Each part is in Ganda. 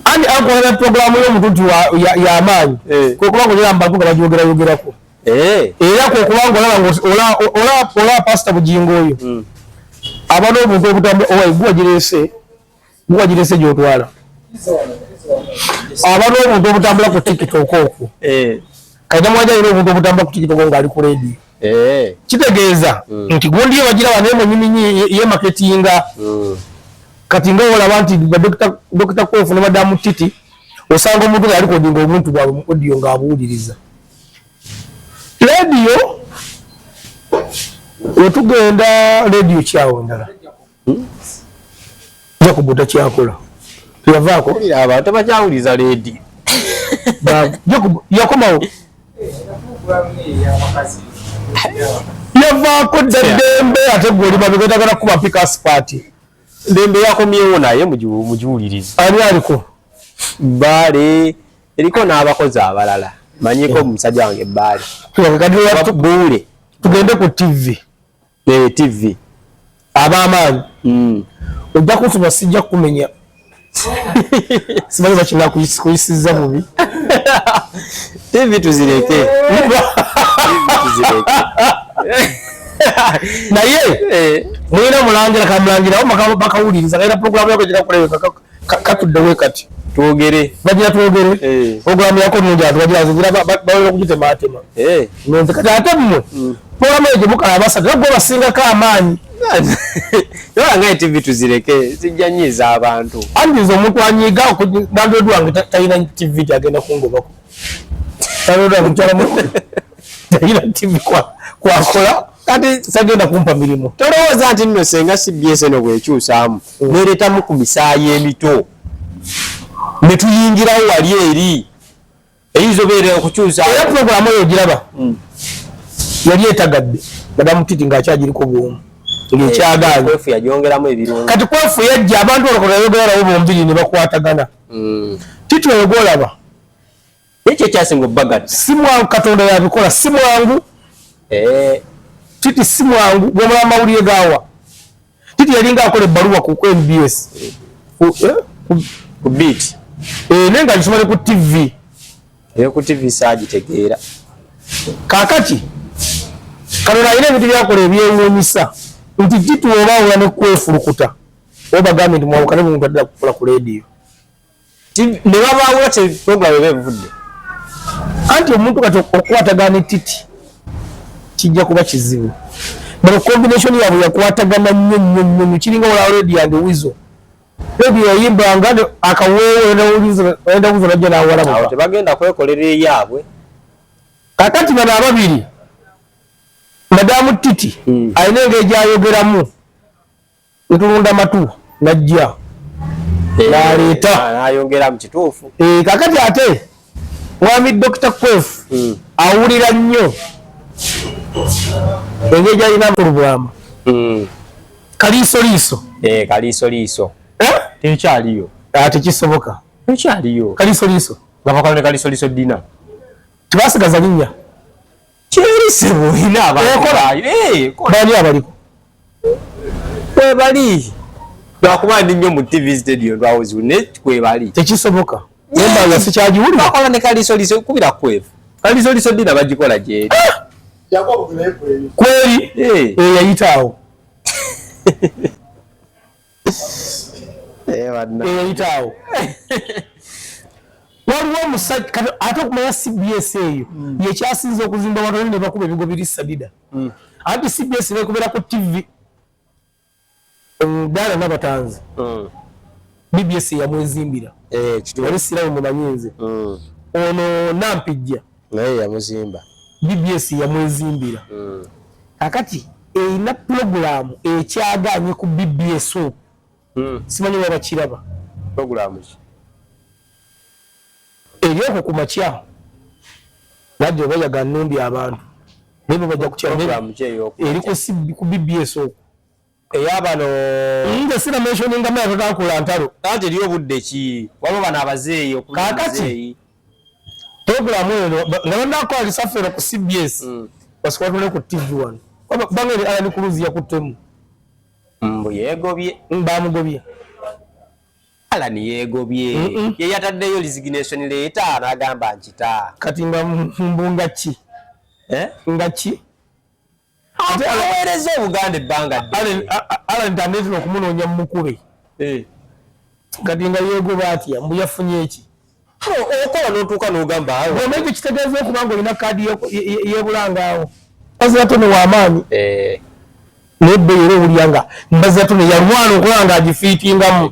ani akolera puroguramu y'omututi yamaanyi eh. kwekubanga olera mubantu nga bagyogerayogeraku eh. era kwekubanga olaba pasita bugingo oyo hmm. aba n'obuntu obutamu owai guwagirese guwagirese gyotwala aba n'obuntu obutambula ku tiktok okwo eh. kati namwaja alina obuntu obutambula ku tiktok ngaali ku rediyo Eh. kitegeeza mm. nti gundi ye bagira wano emunyuminyi ye maketinga mm. kati nga olaba nti dokita kwefu ne madamu titi osanga omuntu nga yalikodinga omuntu bwabwe mu odiyo ng'abuuliriza rediyo wetugenda rediyo kyawo ndala jakubu takyakola teyavaako abantu tebakyawuliza ledi jakubu yakomawo yavaako dda ddembe ate gwe oli babi gwetagala kuba pika sipaati ddembe yakomyewo naye mugiwuliriza ani aliko bbaale eriko n'abakozi abalala manyiko omusajja wange bbaale buule tugende ku tivi eh, tv abamaanyi mm. ojja kunsoma sijja kukumenya simanyi bakina kuyisiza bubi tv tuzireke naye eh. mulina mulangira kamulangirawo bakawuliriza era programu yako gikakulewekakako katuddewe kati twogere bagira twogere eh. programu yako nungi ati bagira nzira bawera okugitema atema eh. nze kati ate mmwe mm. programu eyo gyemukala abasatu nagwe basingako amaanyi yola nga etv tuzireke zijja nyiiza abantu anti nze omuntu anyiiga landlord wange talina tv gyagenda kungobako landlord wange mukyala mu talina tv kwakola kati sagenda kumpa mirimu tolowooza nti nno senga cbs eno bwekyusaamu nereetamu ku misaayi emito ne tuyingirawo wali eri eyinza obeera okukyusa era pulogulaamu eyo ogiraba hmm. yali etagadde madamu titi ng'akyagiriko bwomu ngekyagalkati kwefu yajja abantu olokolayogerarawo bombiri ne bakwatagana hmm. titi oyo gwolaba Ekyo ekyasinga obubagati si mwangu, Katonda yabikola si mwangu eh. Titi si mwangu gwemula amawulire gawa Titi yalinga akola ebbaluwa ku MBS eh, ku beat eh, naye nga gisoma ne ku TV eyo ku TV saagitegeera kaakati Katonda alina ebintu byakola ebyewuunyisa nti Titi oba awula ne kwefulukuta oba gambye nti mwawukane mu muntu addala kukola ku leediyo ne babaawula te puroguramu eba evudde anti omuntu kati okukwatagana etiti kijja kuba kizibu bano combination yabwe yakwatagana nnyo nnyo nnyo nyo kiringa wala redi yandi wizo redi yayimbanga akaweewo enda wizo najja nawalamu tebagenda kwekolera eyabwe kakati bano ababiri madamu titi hmm. alina engeri gyayogeramu ntulunda matu najja eh, naleeta ah, nayongera mu kituufu eh, kakati ate mwami dokita kwefu hmm. awulira nnyo engeri gyalina mu lubwama hmm. kaliisoliiso eh, kaliisoliiso tekyaliyo ah, tekisoboka tekyaliyo kaliisoliiso nga bakola ne kaliisoliiso dina tebasigaza linnya bani abaliko kwebali lwakuba ndi nnyo mu tv stadio lwawozibu ne kwebali tekisoboka embanga sikyagiwulira bakola ne kalisoliso kubira kwevu kalisoliso dina bagikola gyeri ah! kweri eyayitaawo Eh, eyitaawo waliwo omusajja kati ate okumanya cbs eyo hmm. yekyasinza okuzimba wanone nebakuba ebigo biri sadida hmm. anti cbs nekubera ku tv omudala nabatanzi hmm. bbs yamwezimbira eh, wali siramu mumanyinze ono nampijja naye yamuzimba bbs yamwezimbira mm. kakati erina pulogulaamu ekyagaanye ku bbs o mm. simanyi baba kiraba pulogulaamu ki eri okwo ku makya nadde oba yaga nnumbi abantu naye bebajja kutyeri ku bbs okwo eya bano nze sina mentioninga maya totakula ntalo kati eriyo obudde ki waliwo bano abazeeyi kakati puroguramu eno nga banakola lisafe eno ku cbs mm. basika batule ku tv wano banga eri alani kuluzi yakuttemu mbu yegobye mm, bamugobye alan yegobye yeyataddeyo resignation leeta nagamba nkita kati nga mbunga ki eh? nga ki aweereza obuganda ebbanga alan tanetera okumunoonya mumukube eh. kati nga yegoba atya mbu yafunye eki okola notuuka nogamba ekyo kitegeeza okuba nga olina kaadi yebulangaawo bazirato newamaanyi eh. naye beera owulira nga mbazirato neyalwana okulaba nga agifiitingamu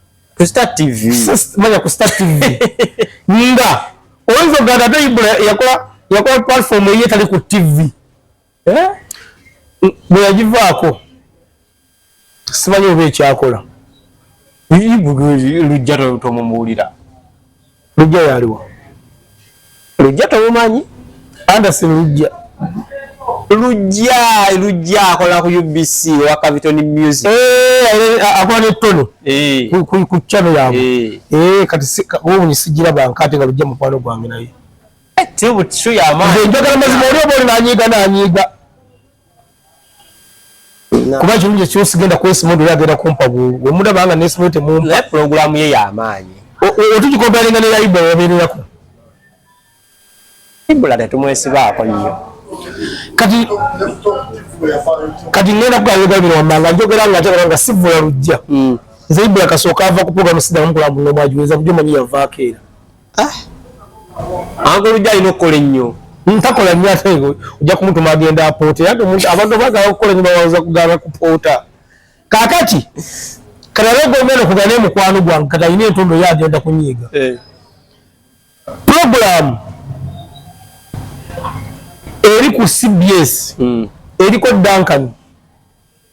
ku star tv manya ku star tv nga oyinza okugamba ate ibula yakola yakola platform eye tali ku tv eh? bwe yagivaako simanyi oba ekyakola lujja tomumuwulira Lujja yaliwa? Lujja tomumanyi? Anderson Lujja. Lujja, Lujja akola ku UBC wa Caviton Music. Eh, akola ne Tony. Eh. Ku ku ku channel yabo. Eh, eh kati ubu ni sijira banka ate nga Lujja mukwano gwange naye. Eh, tibu tishu ya ma. Ndio ndio kama mazima ndio bora na nyiga na nyiga. kuba ekirungi ekyo sigenda kwesima ondi agenda kumpa bwongo wemulaba nga nesima temumpa naye pulogulaamu ye yamaanyi otugikompalinga ne yaibula wabeererako ibula tetumwesibaako nnyo kati kati ngenda kugayoga bino wammanga njogera nga njogera nga sivula lujja hmm. nze ibula kasooka ava ku pulogulaamu sidamu kulambula omwagiweza kujo manyi yavaako era ah. ango lujja alina okukola ennyo ntakola nnyo ate ojja kumutuma agenda apoota era abantu bagala okukola nnyo bawaza kugala kupoota kakati kalalega omwana okugana emukwano gwange kati alina entondo yo agenda kunyiiga eh. puroguramu eri ku cbs hmm. eriko duncan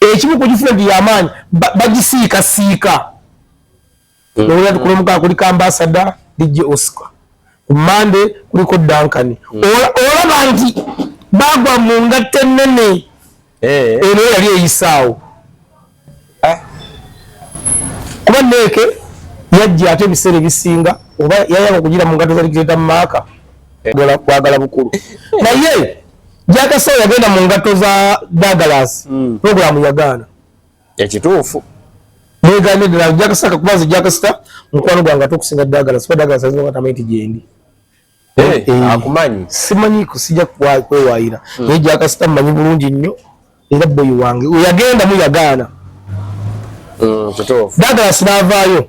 ekimu ku gifuna nti yamaanyi bagisiikasiika nowulira nti kulomukaa kuliko ambasada dj oscar ku mande kuliko dankani mm. olaba nti bagwa mu ngatta ennene eh. eno yali eyisaawo eh. kuba neeke yajja ate ebiseera ebisinga oba yayaba okugira mu ngatta zali kireta mu maaka eh. kwagala bukulu naye jakasa yagenda mu ngatto za dagalas mm. programu yagaana ekituufu mwegambye ddala jakasa kakuba nze jakasita mukwano gwange ate okusinga dagalas kuba dagalas ayinza nga tamanyi ti gyendi hey, eh, hey. Eh, akumanyi simanyi kusija kwewaayira mm. naye jakasita mumanyi bulungi nnyo era boyi wange yagenda mu yagaana mm, dagalas naavaayo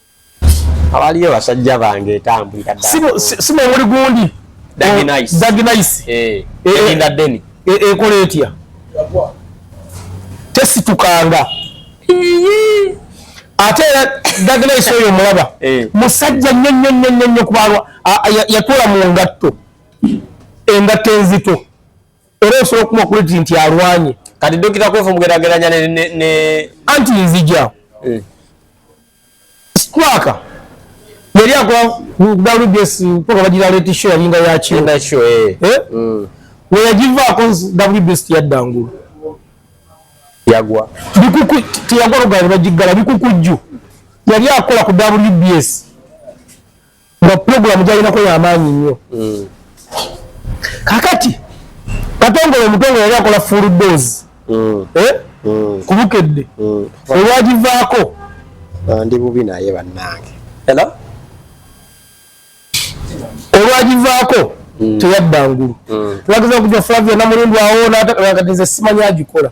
abaliyo basajja bange etambulira si mwemuli gundi daginayisi eh, eh, eh, ekola etya tesitukanga ate era daginayisi oyo omulaba musajja nnyo nnyo nnyo nnyo nnyo kubalwa yatula mu ngatto engatto enzito era osobola okuma okuliti nti alwanye kati dokita kwefu omugerageranya ne anti nzija eh. squaka yali akola wbs mpaka bagira leti show yalinga yakinda show eh. eh? mm. weyagivaako wbs yadda ngulu yagwa bikuku teyagwa lugalo bagiggala bikukujju yali akola ku wbs nga pulogulamu gyalinako yamaanyi nnyo mm. kakati katongole omutongole yali akola full dos mm. eh? mm. kubukedde olwagivaako ndi bubi naye bannange olwagivaako teyadda ngulu twageza okuja flavia namulindwawo nakati nze simanya agikola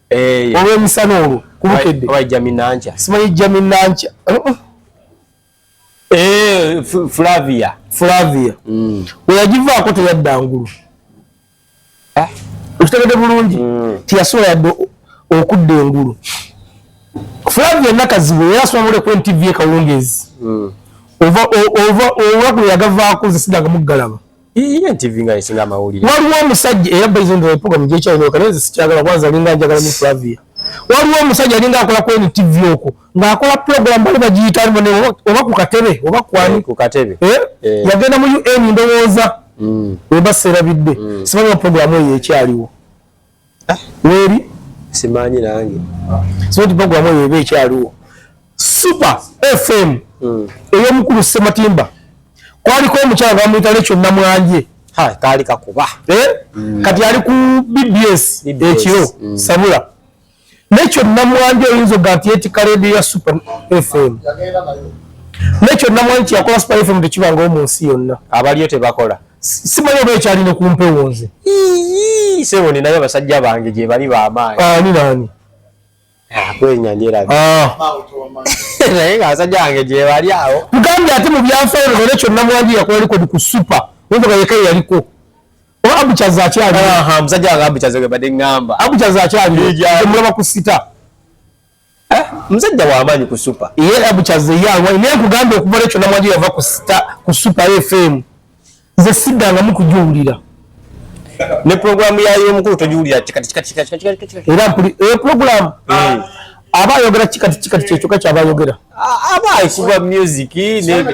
eh, olw'emisana olwo kubukedde simanyi jami nanca uh-uh. eh, flavia flavia mm. weyagivaako teyadda ngulu ah. okitegede bulungi mm. tiyasobola yadde okudda engulu flavia nakazibu era asoma mule ku ntv ekawungezi mm. ova ova ova kuyagavaako zesidanga muggalaba Iye TV nga isinga amawulire. Waliwo omusajja era by the way program je channel kana nze sikyagala kwanza linga njagala mu Flavia. Waliwo omusajja alinga akola ku NTV oko nga akola program bali bagiyita alimu ne oba ku katebe oba kwani eh, ku katebe. Eh? eh. Yagenda mu UN ndowooza. Mm. Weba serabidde. Mm. Simanyi program eyo ekyaliwo. ah, weri simanyi nange sinti programu eyo eba ekyaliwo super fm hmm. eyomukulu sematimba kwaliko omukyala bamuyita lekyo namwanje kaali kakuba eh? hmm. kati ali ku bbs ekiro hmm. sabula nekyo namwandi oyinza oga nti yetika radio ya super fm nekyo namwandi nti yakola super fm tekibangawo mu nsi yonna abaliyo tebakola simanyi oba ekyalina kumpewo nze sebo ninayo abasajja bange gyebali bamaanyi ah, ni nani ah, kwenyanyerabi ah. naye nga abasajja bange gyebali awo mugambye ate mu byanfayiro nekyo namwandi yakola likodi ku super oyinza oga yeka yeyaliko oba abucazi akyali aha musajja wange abucazi gwe bade ngamba abucazi akyali mulaba ku sita eh musajja wa amanyi ku super ye abucazi ye alwa ne kugamba okuva lecho na mwaji yava ku sita ku super fm ze sida nga mukujulira ne programu ya yo mukuru tojulira kikati kikati kikati kikati era mpuli e eh, programu hmm. aba ayogera kikati kikati kyekyoka kyaba ayogera aba ayikuba music nze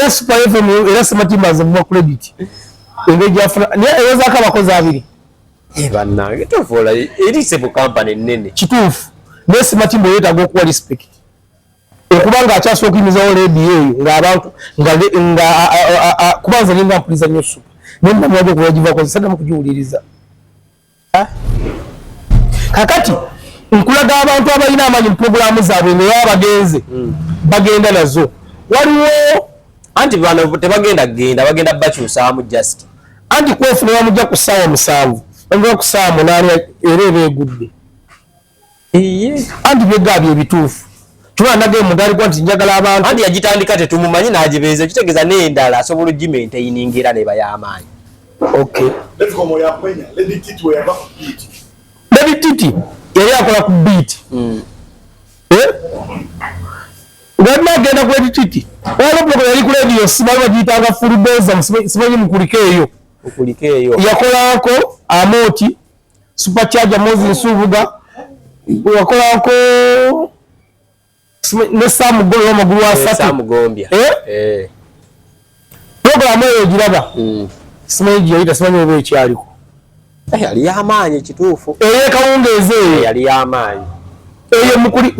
super fm era simatimba nze muwa credit engeri gyafuna naye eyozaako abakozi abiri eh, banange tovola erise mu kampani ennene kituufu naye simatimba oyetaaga okuwa respect okuba nga akyasobola okuyimizawo lediyo eyo ngaabantu kuba nze ninga mpuliza nyo supa naye namwaga okuba yagivakoze saddamu kugiwuliriza kakati nkulaga abantu abalina amanyi mupuroguramu zaabwe ngaoba bagenze hmm. bagenda nazo waliwo anti bano tebagenda kugenda bagenda bakyusaamu just anti kwefunira mujja ku ssaawa musanvu omuba ku ssaawa munaana era eba egudde anti byeggaa bye bituufu tubaa nage mugaali gwa nti njagala abantu anti yagitandika tetumumanyi n'agibeeza ekitegeeza n'endala asobola ogimentaininga era neba y'amaanyi okay lady titi yali akola ku biiti hmm. eh? wabula agenda ku edititi olopuloko yali ku lediyo sibali bagiyitanga fulubeza simanyi mukulika eyo yakolako amooti super charger mozi nsubuga wakolako ne sam golo magulu eh, asatu sam gombia eh, eh. program eyo giraba mm. simanyi giyayita simanyi oba ekyaliko eh, yali yamaanyi kituufu eyo ekawungeezi eyo yali yamaanyi eyo mukuli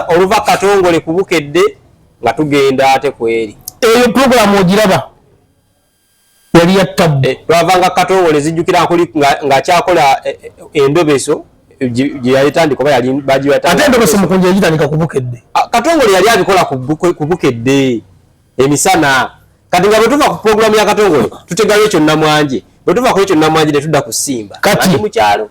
oluva katongole kubukedde nga tugenda ate kweri eyo program ogiraba yali ya tabbu eh, lwavanga katongole zijjukira nkuli ng'akyakola eh, eh, endobeso gye yalitandika oba yali bagiwataate endobeso mukunja yagitandika ku bukedde ah, katongole yali abikola ku bukedde emisana kati nga bwe tuva ku pulogulaamu ya katongole tutegayo ekyo nnamwanje bwe tuva ku ekyo nnamwanje ne tudda ku simba kati mu kyalo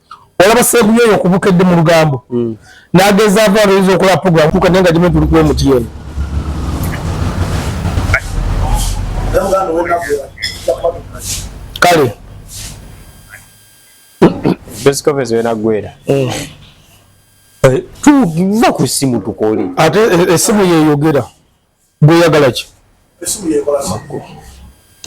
olaba seeku yoyo okubukedde mu lugambo mm. nagezaako aloyinza okola program kuka naye nga gimu tuli kuwa omutiyeni kale bescovens wenagwera mm. eh, tuva ku simu tukole ate esimu eh, eh, yeyogera Gwe yagala ki? Esimu yekola makko.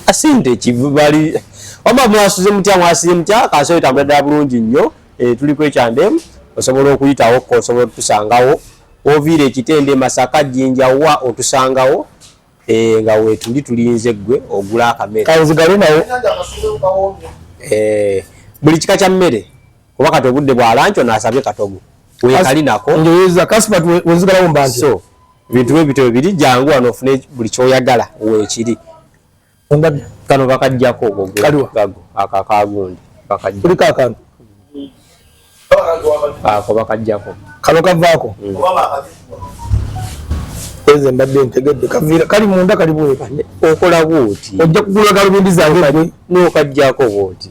Asinde kibali. Wama mwasuze mutya mwasize mutya kasoyo tambadde bulungi nnyo. Eh tuli kwekyande osobola okuyitawo ko osobola tusangawo. Ovire kitende masaka jinja wa otusangawo. Eh nga wetuli tulinze gwe ogula akamera. Kaizigale nawo. Eh buli kika kya mmere. kuba kati obudde bwa lanco nasabye katogo wekali nako njoyeza kaspat wenzigalawo mbanje so ebintu bwe bityo biri jangu wano ofune buli kyoyagala wekiri ondabi kano bakajjako ogo gago akakagundi bakajja kulika akantu ako bakajjako kano kavaako mm. eze mbadde ntegedde kaviira kali munda kali bweka okola bwoti ojja kugula galubindi zange nokajjako bwoti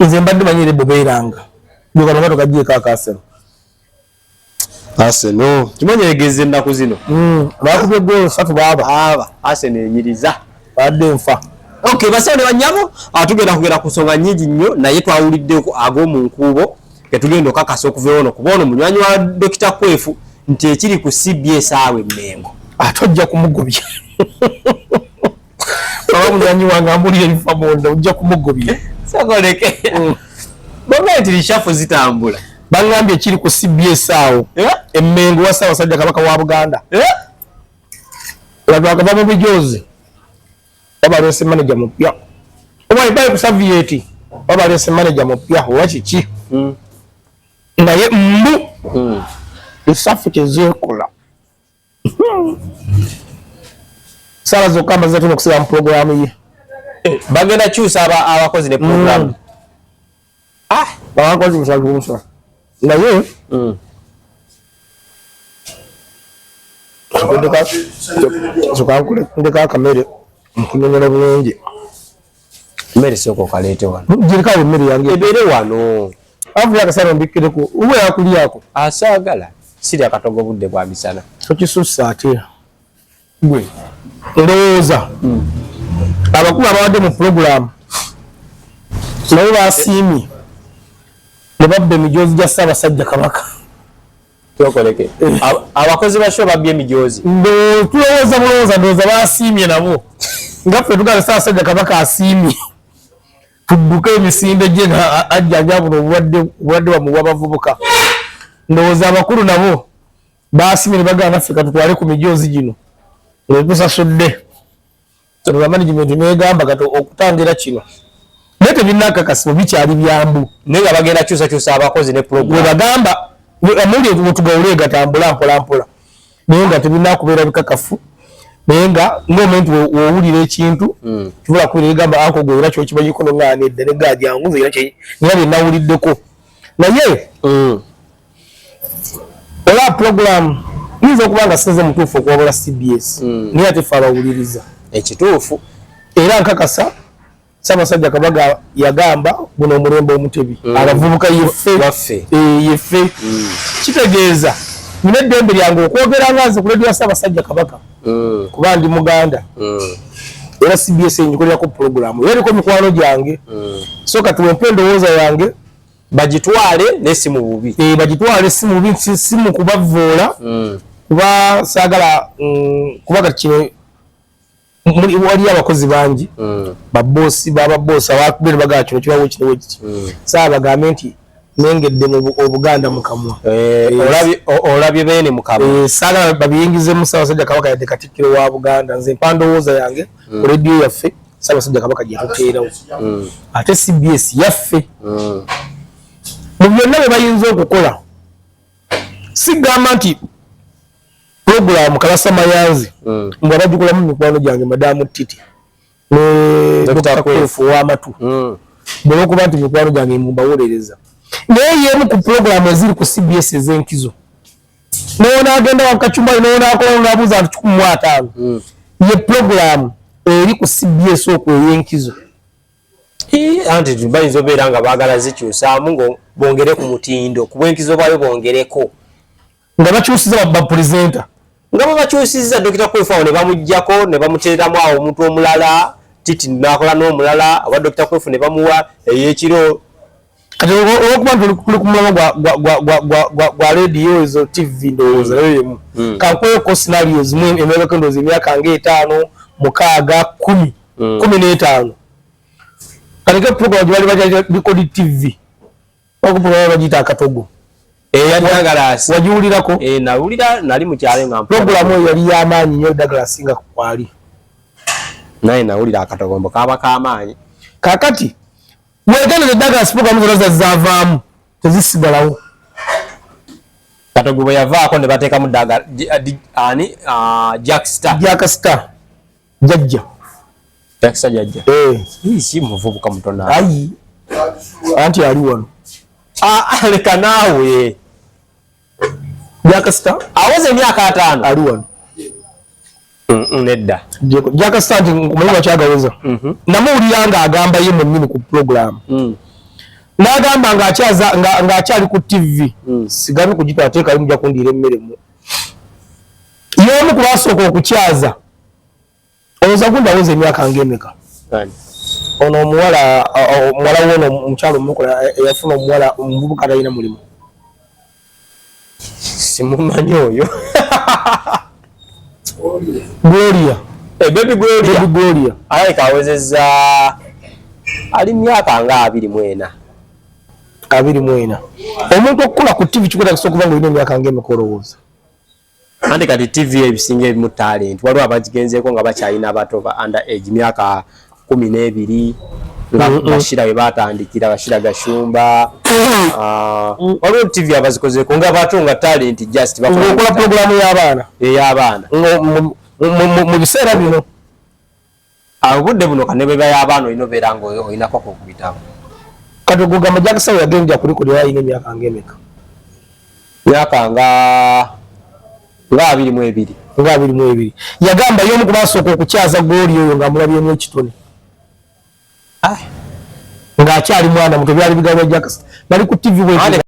nze mbadde manyi ere bobeeranga gwekanonga tokajeeko akasero aseno kimanyi egeze ennaku zino hmm, bakubye golo satu baaba aba aseno enyiriza badde nfa ok basawo ne banyabo atugenda ah, kugenda ku nsonga nyingi nnyo naye twawuliddeko ag'omu nkuubo ketugenda okakasa okuva ono kuba ono munywanyi wa dokita kwefu nti ekiri ku cbs awe mengo ate ah, ojja kumugobya baba munywanyi wange amulira ebifa munda ojja kumugobya sokoleke mm. baba nti lishafu zitambula bangambye kiri ku cbs awo eh? emmengo wa ssaabasajja kabaka wa buganda eh? lwagava mu bijoozi babalese manaja mupya obaibali kusavieti babalese manaja mupya owa kiki hmm. naye mbu hmm. esafu kyezeekola sala zokka amaze tuno kusira mu programu ye eh, bagenda kyusa aba abakozi ne programu mm. ah bakozi musalu musa naye mm. ndeka kamere nkunyonyola bulungi Mmere soko kalete wano. Jirika wo mmere yange. Ebere wano. Avu ya kasaro mbikire ko. Uwe akuli yako. Asagala. Siri akatogo budde bwa misana. Okisusa ate. Gwe. Ndoza. Mm. Abakulu abawade mu program. Nawe basimi. Ne babbe mijozi ja saba sajja kabaka. kyokoleke abakozi ba show babye emijoozi tulowooza bulowooza ndowooza basiimye nabo nga ffe tugala saasajja kabaka asiimye tudduke emisinde gye nga ajjanja buno obulwadde obulwadde bamuwa bavubuka ndowooza abakulu nabo basiimye ne bagala naffe katutwale ku mijoozi gino netusasudde Kyanula management negamba kati okutangira kino naye tebinakakasibwa bikyali byambu naye nga bagenda kyusakyusa abakozi ne program webagamba amuli wetugawule gatambula mpolampola naye nga tebinakubeera bikakafu naye nga ngaomuntu wowulira ekintu hmm. kibula kubira egamba anko gwe era kyokimanyiko noŋaana edda negajangu era byenawuliddeko naye hmm. ola pulogulaamu yinza okuba nga sinze mutuufu okuwabula cbs hmm. naye ate fe abawuliriza ekituufu era nkakasa sabasajja kabaga yagamba guno omulembe omutebi mm. abavubuka yeffe eh, yeffe mm. kitegeeza nina eddembe lyange okwogera nga nze kuledio sabasajja kabaka mm. kuba ndi muganda era cbs enyikolerako pulogulamu era eriko mikwano gyange so kati wempa endowooza yange bagitwale naye si mu bubi eh, bagitwale si mu bubi si mu kubavvoola mm. kuba saagala mm, kuba kati kino waliyo abakozi bangi mm. baboosi bababoosi abakubere bagala kino kibawo kino wekiti mm. saa bagambe nti nengedde mu obuganda mukamwa eh, olabye beene mukamwa eh, saagala babiyingizemu saabasajja kabaka yadde katikkiro wa buganda nze mpa ndowooza yange mm. radio yaffe sabasajja kabaka jatuteerawo mm. ate cbs yaffe mm. mu byonna bwe bayinza okukola sigamba nti puroguramu kalasa mayanzi mm. nga bagikolamu mikwano gyange madamu titi nekufu wamatu mm. bwebakuba nti mikwano gyange mumbawolereza naye yemu ku puroguramu eziri ku cbs ezenkizo n'onaagenda wakacumbali n'onaakola n'abuuza nti kikumi mu ataano hmm. ye pulogulaamu eri ku cbs oku ey'enkizo anti bayinza obeera nga baagala zikyusaamu nga bongere ku mutindo ku bwenkizo bwayo bongereko nga bakyusiza bapulezenta nga bwebakyusiza dokita kwefawo ne bamugjako ne bamuteeramu awo omuntu omulala titi nakola n'omulala oba dokita kwefu ne bamuwa eyekiro kati olwokuba nti tuli ku mulamwa gwa rediyo ezo tv ndowooza nayo yemu hmm. kankweko sinario zimu emyagako endowooza emyaka nga etaano mukaaga kumi hmm. kumi n'etaano kanike program gye bali baja bikodi tv okuprogram bagiyita akatogo wagiwulirako eh, nawulira nali mukyalo nga programu eyo yali yamaanyi nyo eddagala singa kwali naye nawulira akatogombo kaba kamaanyi kakati wegenda ne daga sipoka mu zona zavaamu tezisigalawo katogo bwe yavaako ne bateekamu daga ani ah, jack star jack star jajja jack star jajja eh hii si muvubuka mutona ayi anti ali wano ah, ah leka naawe jakasita aweza emyaka ataano ali wano mm, mm, nedda jakasita nti omanyi bakyagaweza mm-hmm. namuwulira nga agamba ye mwenyini ku pulogulaamu mm. nagamba ngaakyali ku tivi sigambi kugitwala teekayo muja kundiira emmeremu yomu kubasooka okukyaza Oza gunda woze miaka ngemeka. Kani. Ono muwala muwala wono mchalo mmokola yafuna muwala mbubu kata ina mulimu. Simu manyo yo. Gloria. Gloria. Hey, eh, baby Gloria. Baby Gloria. Aye kaweze za ali miaka nga abiri mwena. Abiri mwena. Omuntu okula ku TV chikuta kisokuva ngo ino miaka ngemeka orowoza. Andi kati TV ebisinga ebimu talent waliwo abagigenzeeko nga bakyalina abato ba under age myaka kumi n'ebiri nga mm, mm. bashira we batandikira bashira gashumba mm. ah, waliwo TV abazikozeeko nga bato nga talent just bakola programu y'abaana ey'abaana mu biseera bino obudde buno kane beba y'abaana olina obeera nga olinako kukuyitamu kati ogugamba jakisawo yagenja kulikulira alina emyaka nga emeka myaka nga nga abiri mu ebiri nga abiri mu ebiri yagamba y'omu ku basooka okukyaza gooli oyo ng'amulabyemu ekitone ng'akyali mwana muto byali bigambo jakisa bali ku tivi